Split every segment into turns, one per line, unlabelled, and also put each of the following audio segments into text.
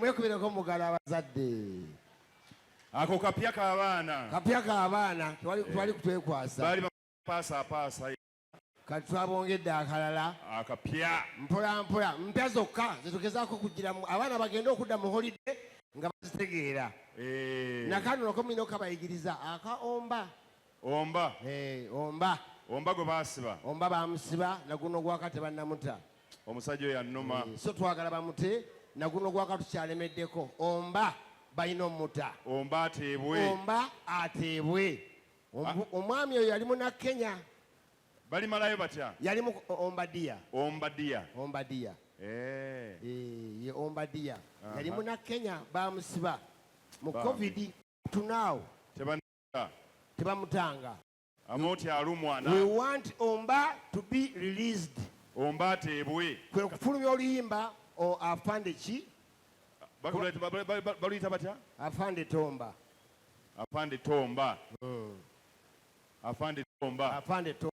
mwekubireko mugala abazadde
ako kapya k'abaana kapya k'abaana twali eh.
kutwekwasa baali bapaasapaasa
kati
twabongedde akalala akapya
mpolampola
mpya zokka zetugezaako okugiramu abaana bagende okudda mu holide nga bazitegeera eh. nakanonako mulina okabayigiriza akaomba Omba. Hey, omba. Omba gwe baasiba. Omba
baamusiba
naguno ogwaka tebannamuta. Omusajja oyo
annuma. Hey, so twagala bamute
naguno ogwaka tukyalemeddeko. Omba balina omuta. Omba ateebwe.
Omba ateebwe. Ah. Omwami
oyo yali muna Kenya. Bali malayo
batya? Yali mu omba
dia. Omba dia. Omba dia. Eh. Eh, ye omba dia. Yali muna Kenya baamusiba. Mu COVID tunaawo. Tebana tebamutanga
amoti alumwa na we want omba
to be released omba ateebwe
kwe kufulumya
oluyimba o afande ki
baluyita batya afande tomba
afande
tomba hmm. afande tomba afande tomba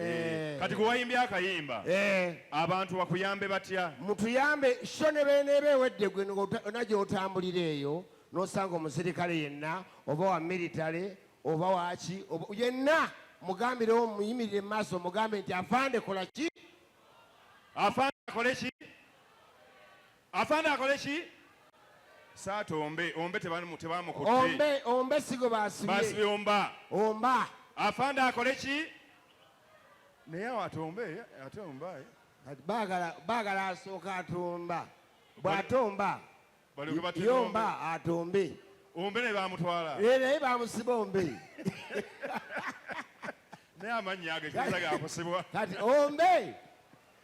Eh.
kati gwe wayimbye akayimba eh. abantu bakuyambe batya mutuyambe sho
ne beneeba ewedde gwe ona gyotambulira eyo nosanga omusirikale yenna oba wa military oba waki yenna mugambirewo muyimirire mumaaso mugambe nti afande kola ki
afande akole ki Afande akole ki? Saata ombe, ombe tebamukutte. Ombe, ombe sigo
baasibye. Baasibye omba.
Omba.
Afande akole
ki? Naye awo atombe, ate omba. Eh? Baagala,
baagala asooka atomba. Bw'atomba.
Yomba atombe.
Ombe ne
baamutwala. Eh, naye baamusiba
ombe.
Naye amannya ago, ekibuuza ga kusibwa. Kati ombe.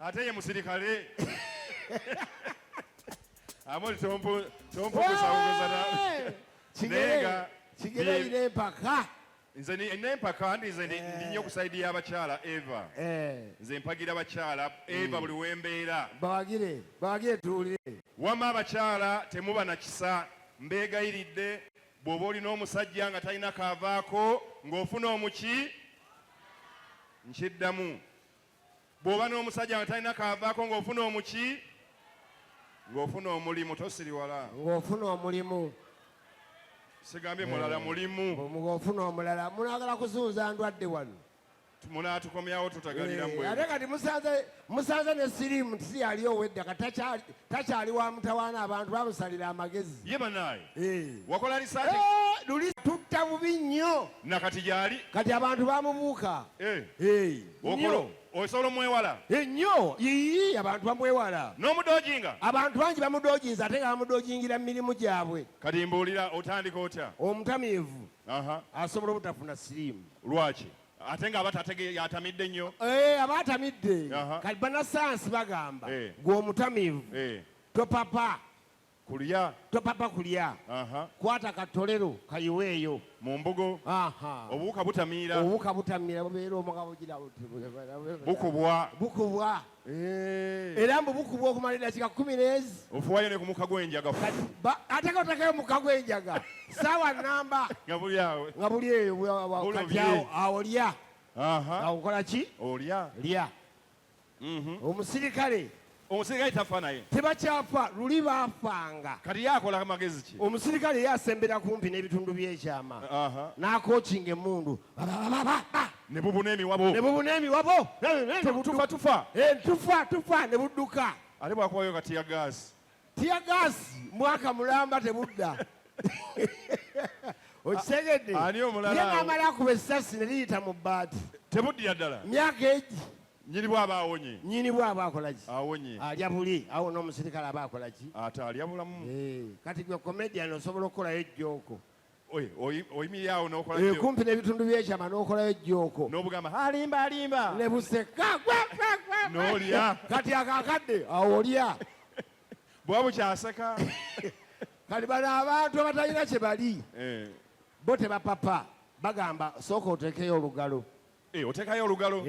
ate ye musirikale amoli
tompugusauguzana nayenga kigereyira empaka
nze nempaka ndi nze eh. ndi nyo kusaidi ya bakyala eva eh. nze mpagira bakyala hmm. eva buli wembeera bawagire bawagire
tuwulire wama abakyala
temuba na kisa mbeegayiridde bw'oba olina omusajja nga talina kaavaako ng'ofuna omuki nkiddamu bw'oba n'omusajja nga talina kaavaako ng'ofuna omuki ng'ofuna omulimu tosiriwala ng'ofuna omulimu sigambye mulala eh, mulimu ng'ofuna omulala
munagala kuzunza ndwadde wano munaatukomyawo
tutagalira eh, ate kati
musanze ne sirimu nti siyali owedda ka takyali wa mutawaana abantu bamusalira amagezi ye banaaye
eh. wakola lisaati luli tutta
bubi nnyo nakati gyali
kati abantu bamubuuka okolo osobola omwewala ennyo yiyi
abantu bamwewala n'omudojinga abantu
bangi
bamudojinza ate nga bamudojingira mu mirimu gyabwe kati mbuulira
otandika otya omutamiivu
asobola obutafuna siriimu lwaki
ate nga abatatege yatamidde nnyo eh, aba atamidde
kati banasayansi bagamba eh. gwe omutamiivu eh. topapa kulya topapa kulya kwata katolero kayiweeyo mu mbugo
obuwuka butamiira obuwuka butamiira bubeera
omukabukubwa bukubwa eh. era mbu bukubwa okumala edakika kumi neezi ofuwayo ne ku muka
gw'enjaga ateka
otekayo muka gw'enjaga saawa namba nga buli awo nga
buli eyo
kati awo lya awo ki olya lya Mhm. omusirikale omusirikale tafa naye
tebakyafa luli
baafanga kati yakola
magezi ki omusirikale ye asembera
kumpi n'ebitundu by'ekyama Aha. n'akokinga emmundu
ne bubuna emiwabo ne bubuna emiwabo tufa tufa Eh,
tufa tufa ne budduka ate bwakubayo kati
ya gaasi Tear gas
mwaka mulamba tebudda. Okitegedde? Ani omulala? Ye
namala kuba essasi
ne liyita mu bbaati. Tebuddira ddala.
Myaka egi.
Nyini bwaba
awonye. Nyini bwaba akola ki?
Awonye. Alya buli.
Awo
n'omusirikale aba akola ki? Ate alya bulamu.
Eh, kati gwe comedian
osobola okukolayo jjooko.
oyimiriraawo nokola eh, kumpi n'ebitundu byekyama
n'okolayo ejjooko n'obugamba alimba
alimba ne buseka
n'olya
kati akakadde
awo olya bwa
bukyaseka
kati bano abantu abatalina kye bali eh. bo tebapapa bagamba sooka oteekeyo olugalo eh, oteekayo olugalo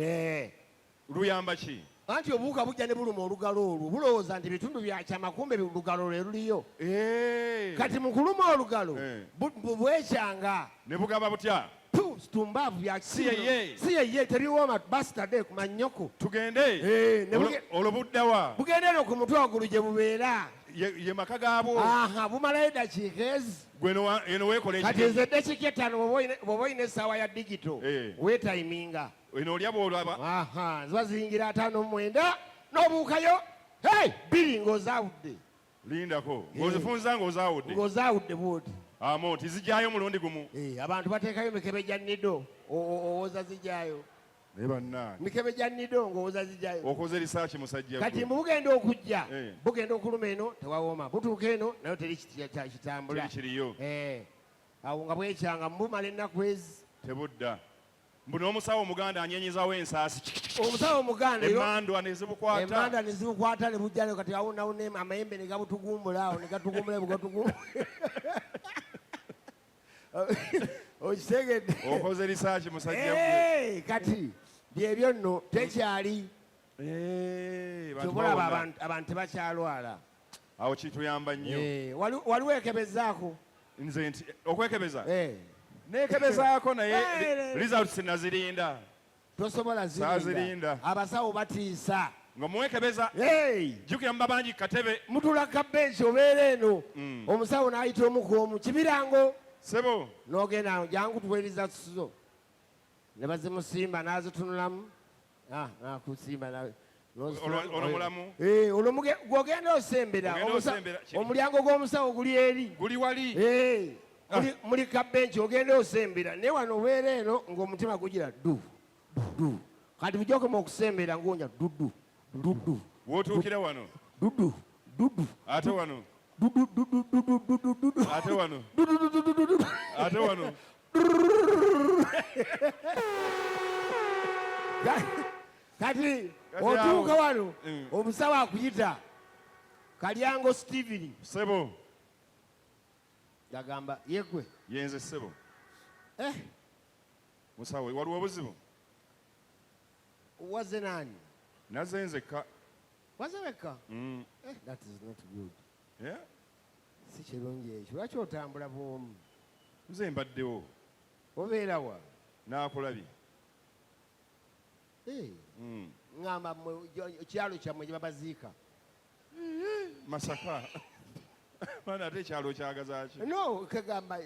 Luyamba ki? Anti obuwuka bujja
ne buluma olugalo olwo bulowooza nti bitundu bya kyama kumbe olugalo lwe luliyo. Eh. Kati mu kuluma olugalo eh. bwekyanga. Ne bugaba
butya? situmbavu
byakisiyeye tebiwooma basitade ku mannyoko tugende
eh, olwo buddawa bugendere ku mutwe waggulu
gye bubeera ye maka
gaabwo aha bumalayo
eddakiika ezi kati
nze eddakiika
ettaano bw'oba olina essaawa ya digito eh. wetayiminga eno olya bwolaba
aha ziba ziyingira ataano
mwenda n'obuukayo hey bbiri ng'ozaawudde lindako
ng'ozifunza ng'ozaawudde ng'ozaawudde bwoti
amo nti zijjayo
omulundi gumu eh, abantu bateekayo
mikebe gya nido owoza zijjayo naye bannange mikebe gya nido ng'owoza zijjayo okoze risaaki musajja
kati mbu bugenda okujja
eh. bugenda okuluma eno tewawooma butuuka eno nayo teri kitambula kiriyo
eh, awo
nga bwekyanga mubumala ennaku ezi tebudda
mbu n'omusawo omuganda anyenyezawo ensaasi omusawo omuganda
emandwa nezibukwata
emandwa nezibukwata
ne bujja kati awo nawo ne amayembe ne gabutugumbula awo ne gatugumbula bwe gatugumbula okitegedde okoze risaaki musajja
gwe kati
byebyo nno tekyali kyobolaba abantu tebakyalwala awo
kituyamba nnyo eh, waliwo ekebezaako
nze nti
okwekebeza eh. nekebezaako naye eh, results nazirinda tosobola
zirinda abasawo batiisa nga muwekebeza
jjukira muba bangi katebe mutula kabensi
obeera eno mm. omusawo n'ayita omuku omu kibirango sebo
n'ogenda jangu
tuwereza zo ne bazimusimba n'azitunulamu Ah, ah, kusiima nawe ono
mulamu eh, olwo
gwogenda osembera omulyango gw'omusawo guli eri guli wali eh,
ah. muli
kabenki ogenda osembera naye wano obeera eno ng'omutima gugira du du kati bujja okoma okusembera ng'onya dudu dudu
wotuukira wano dudu
dudu ate
wano dudu dudu dudu dudu ate wano dudu dudu dudu ate wano
kati otuuka wano mm. omusawo akuyita kalyango steven sebo gagamba
yegwe yenze
sebo
eh. musawo waliwo obuzibu
waze nani naze nzekka
waze wekka
mm. eh, that is not good yeah?
si
kirungi ekyo lwaki otambula bwomu nze mbaddewo
obeerawa
nakulabye
eh.
hmm. ngamba kyalo kyammwe gyebabaziika masaka
mana ate ekyalo kyagazaki no kagamba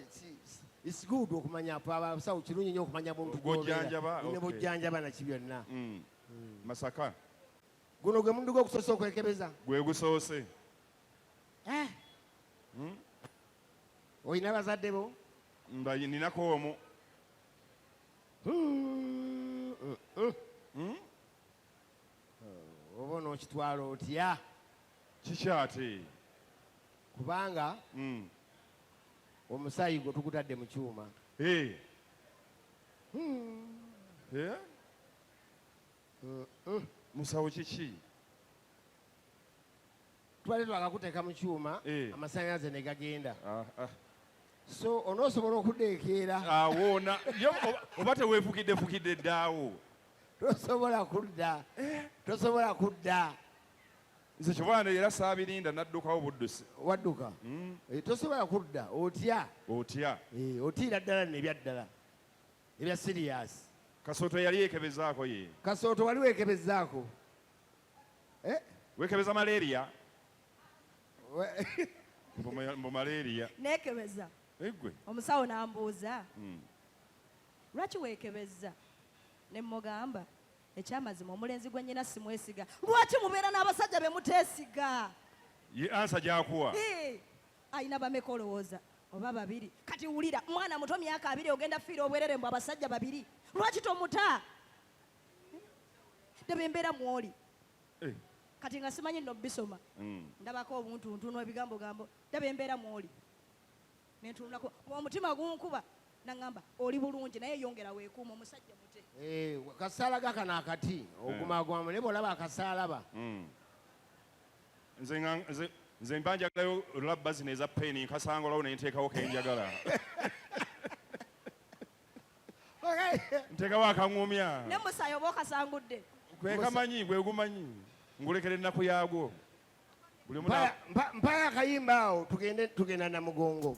it's good okumanya abasawo kirungi nyo okumanya muntu ne
bujjanjaba
naki byonna hmm. Hmm. masaka Guno gwe muddu gw'okusoose okwekebeza? Gwe gusoose.
Eh. Hmm?
Olina bazadde bo? Ninako
omu. Hmm, hmm,
hmm. Oh, oba onookitwala otya? Kikyate. Kubanga omusaayi gwo tugutadde mu kyuma. Eh. Eh?
musawo kiki
twali twakakuteeka mu kyuma eh. amasanyalaze ne gagenda ah, ah. so onoosobola okudeekeera awoona
ah, oba teweefukiddefukidde ddaawo tosobola
kudda eh. tosobola kudda nze
kibwana era saabirinda naddukawo buddusi wadduka hmm.
eh, tosobola kudda otya otya
otiira ddala
nebyaddala ebya serious. Kasooto yali
yekebezaako ye. Kasooto wali wekebezaako.
Eh?
Wekebeza malaria. Mbu malaria. Nekebeza.
Egwe. Omusawo
nambuuza.
Mm. Lwaki wekebeza? Ne mugamba ekyamazima omulenzi gwe nyina simwesiga. Lwaki mubeera n'abasajja be mutesiga? Ye ansa
gyakuwa. Hey. alina
bameka olowooza oba babiri kati wulira mwana muto myaka abiri ogenda fiira obwerere mbu abasajja babiri lwaki tomuta ndaba embeera mwoli eh. kati nga simanyi nno bisoma hmm. ndabako obuntu ntuno ebigambo gambo ndaba embeera mwoli nentunulako omutima gunkuba nangamba oli bulungi naye yongera wekuuma omusajja mute eh, kasaala
gakano akati ogumagwamu hmm. naye bwolaba akasaalaba hmm. nze
nga nze nze mba njagalayo labba zino eza peni nkasanga olawo nenteekawo kenjagala nteekawo akaŋumya ne musayi oba
okasangudde kwekamanyi
gwegumanyi ngulekera ennaku yaagwo buli
mpaya akayimba awo tugenda namugongo